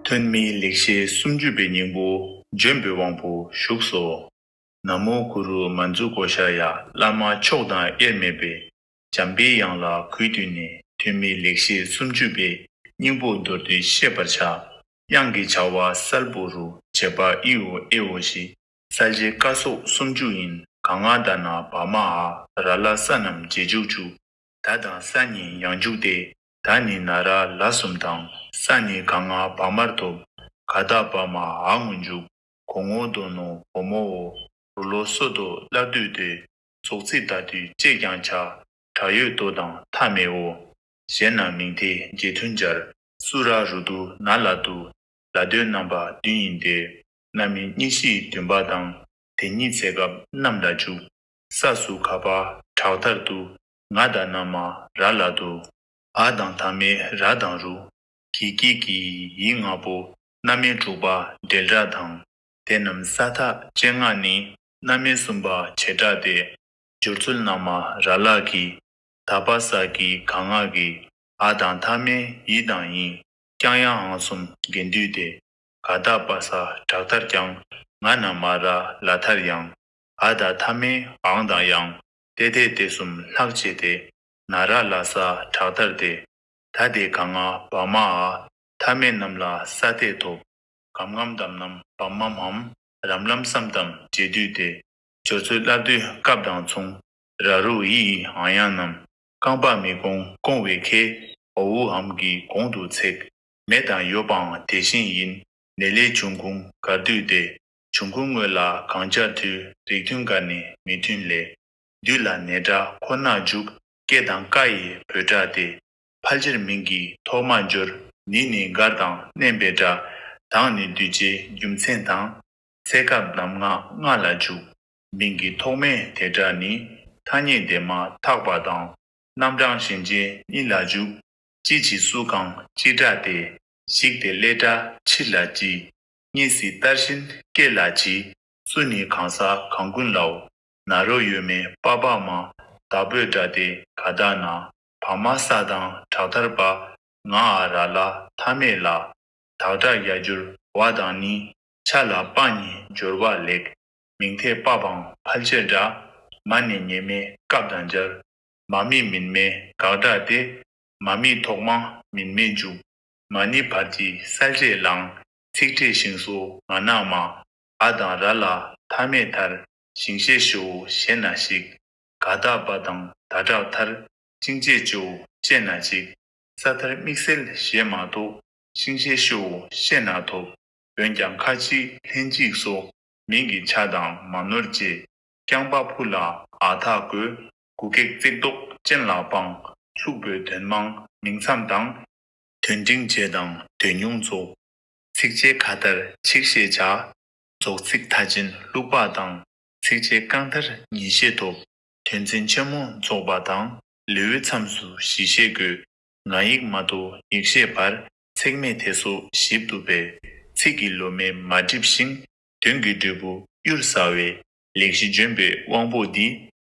ཐོན་མིའི་ལེགས་བཤད་སུམ་ཅུ་པའི་སྙིང་པོ། ལྗོན་པའི་དབང་པོ་བཞུགས་སོ། ན་མོ་གུ་རུ་མ་མཛུ་གོ་ཤ་ཡ་བླ་མ་མཆོག་དང་དབྱེར་མེད་པའི་འཇམ་དཔལ་དབྱངས་ལ་གུས་བཏུད་ནས་ཐོན་མིའི་ལེགས་བཤད་སུམ་ཅུ་པའི་སྙིང་པོ་མདོར་བསྡུས་བཤད་པར་བྱ། དབྱངས་ཀྱི་བྱ་བ་གསལ་པོ་རུ་བྱེད་པ་ཨིའོ་ཨེའོ་ཞེས་གསལ་བྱེད་བཀའ་སོགས་སུམ་ཅུ་ཡིན་ག་ང་ད་ན་བ་མ་ཧ་ར་ལ་ས་རྣམས་རྗེས་འཇུག་བཅུ་ད་དང་ས་ནི་ཡང་འཇུག་སྟེ། ད་ནི་ན་ར་ལ་གསུམ་དང། ས་ནི་ག་ང་བ་མར་ཐོབ། ག་དག་བ་མ་ཨ་ངུ་འཇུག། གོ་ངོ་དོ་ནོ་བོ་མོ་འོ། རུ་ལོ་སོ་དོ་སླར་འདུས་ཏེ། སོགས་ཚིག་དག་དུས་བཅད་ཀྱང་བྱ། བྲག་ཡོད་དོ་དང་ཐ་མའི་འོ། གཞན་རྣམས་མིང་མཐའི་རྒྱས་མཐུན་སྦྱར། སུ་ར་རུ་དུ་ན་ལ་དུ། ལ་དོའི་རྣམ་པ་བདུན་ཡིན་ཏེ། རྣམ་སྨིན་གཉིས་བཞིའི་བདུན་པ་དང། དེ་གཉིས་ཚེ་སྐབས་རྣམས་ལ་འཇུག། ས་སུ་ག་པ་བྲག་ལྟར་དུ། ང་དང་མནའ་མ་ར་ལ་དུ། ཨ་དང་ཐ་མའི་ར་དང་རུ། གི་སྐྱིད་ཀྱི་ཡིག་ལྔ་པོ། མནའ་མའི་དྲུག་པ་འབྲེལ་སྒྲ་དང། དེ་རྣམས་ས་ཐག་བཅད་སྔགས་ནི། མནའ་མའི་གསུམ་པ་བྱེ་བྲག་སྟེ། སྦྱོར་ཚུལ་མནའ་མ་ར་ལ་གི། ད་པ་ས་ཀྱི་ག་སྔགས་ཀྱི། ཨ་དང་ཐ་མའི་ཡི་དང་ཡིན། ཀྱང་ཡང་ཨང་གསུམ་དགེ་འདུས་ཏེ། ག་ད་པ་ས་བྲག་ལྟར་ཀྱང། ང་མནའ་མ་ར་ལ་ཐར་ཡང། ཨ་དང་ཐ་མའི་ཨང་དང་ཡང། ཏེ་ཏའི་ཏེ་གསུམ་ལྷག་བཅས་ཏེ། ན་ར་ལ་ས་བྲག་ལྟར་ཏེ། ད་ཏེ་ག་ང་བཱ་མ་ཨ། ཐ་མའི་རྣམས་ལ་ས་སྟེ་དོ། གམ་ངམ་དམ་ནམ་བམ་མམ་འམ། རམ་ལམ་སམ་དམ་རྗེས་བསྡུས་ཏེ། སྦྱོར་ཚུལ་བསླབ་བསྡུའི་སྐབས་དང་མཚུངས། ར་རུ་ཨི་ཨི་ཨང་ཡང་རྣམས། རྐང་པ་མི་གོང་སྐོང་བའི་ཁེ། ཨོ་ཨུ་འམ་གྱི་གོང་དུ་ཚེག། མེ་དང་ཡོ་པའང་དེ་བཞིན་ཡིན། ནེ་ལེ་བྱུང་ཁུང་གར་བསྡུས་ཏེ། འབྱུང་ཁུངས་དངོས་ལ་གང་བྱ་འཐུས་རིགས་མཐུན་འགའ་ནི་མི་མཐུན་ལས། འདུས་ལ་ནས་སྒྲ་ཁོ་ནར་འཇུག་སྐད་དང་ཀ་ཡི་བོད་སྒྲ་སྟེ། ཕལ་ཆེར་མིང་གི་ཐོག་མར་འབྱོར་ནི་ནི་མགར་དང་བསྣན་པའི་སྒྲ། དང་ནི་འདུས་བྱས་རྒྱུ་མཚན་དང། ཚད་སྐབས་ནམ་ངག་ལྔ་ལ་འཇུག། མིང་གི་ཐོག་མའི་དེ་སྒྲ་ནི། ཐ་སྙད་དེ་མ་ཐག་པ་དང། རྣམ་གྲངས་ཞེན་ཅན་གཉིས་ལ་འཇུག། ཅི་བྱི་སུ་གང་ཅི་སྒྲ་སྟེ། ཞིག་དེ་སླད་སྒྲ་ཕྱིར་ལ་བགྱི། གཉིས་སུ་བསྟར་བཞིན་སྐད་ལ་གྱིས། སུ་ནི་གང་ཟག་གང་ཀུན་ལའོ། ན་རོ་ཡོད་མེད་དཔའ་བག་མ། དག་པོས་འདྲ་སྟེ་ག་དག་ན། བག་མ་ས་དང་བྲག་ཐར་པ། ང་ཨ་ར་ལ་མཐའ་མེད་ལ། དག་དག་ཡ་འགྱུར་བ་དང་ནི། ཆ་ལ་དཔའ་ནི་སྦྱོར་བ་ལེགས། མིང་ཐད་དཔའ་བང་ཕལ་ཆེར་འདྲ། མ་ནི་ངེས་མེད་སྐབས་དང་སྦྱར། མ་མིག་མིན་མེད་དགག་སྒྲ་སྟེ། མ་མིག་ཐོག་མ་མིན་མེད་འཇུག། མ་ནི་བར་གྱི་སལ་རས་བླང། ཚིག་ཕྲད་ཞིང་སོ་མ་ནག་མ། ཨ་དང་ར་ལ་མཐའ་མེད་མཐར། ཞིང་ཤེས་ཞོ་འོ་ཞེས་ན་ཞིག། ག་བདག་བ་དང་ད་དྲག་མཐར། ཤིང་བྱེད་ཅོ་འོ་ཅེས་ན་ཅིག། ས་མཐར་དམིགས་སེལ་ཞེས་མ་གཏོགས། ཤིང་ཤེས་ཤོ་འོ་ཤེས་ན་ཐོབ། འོན་ཀྱང་ཁ་ཅིག་ལྷན་ཅིག་སོ། མིང་གི་ཆ་དང་མ་ནོར་བཅས། རྐྱང་པ་ཕུ་ལ་ཨ་ཐག་གོས། གུ་གེགས་བརྩེགས་བཟློག་སྤྱན་ལ་དཔང། ལྷུག་པོའི་དོན་མང་མིང་མཚམས་དང། དོན་འབྲིང་རྗེས་དང་དོན་ཉུང་རྫོགས། ཚིག་བཅད་ག་དར་ཆིག་ཤེས་བྱ། རྫོགས་ཚིག་མཐའ་ཅན་ལྷུག་པགས་དང། ཚིག་བཅད་རྐང་དར་ཉིས་ཤེས་ཐོབ། དོན་ཚན་ཆེན་མོ་རྫོགས་པ་དང། ལེའུའི་མཚམས་སུ་བཞི་ཤེས་དགོས། ང་ཡིག་མ་དོ་ཡིག་ཤེས་བར། ཚེགས་མེད་དེ་སོགས་ཞིབ་ཏུ་སྦས། ཚིག་གི་ལོ་མས་མ་བསྒྲིབས་ཤིང། དོན་གྱི་འབྲས་བུ་གཡུར་ཟ་བའི། ལེགས་བཞི་ལྗོན་པའི་དབང་པོ་འདི།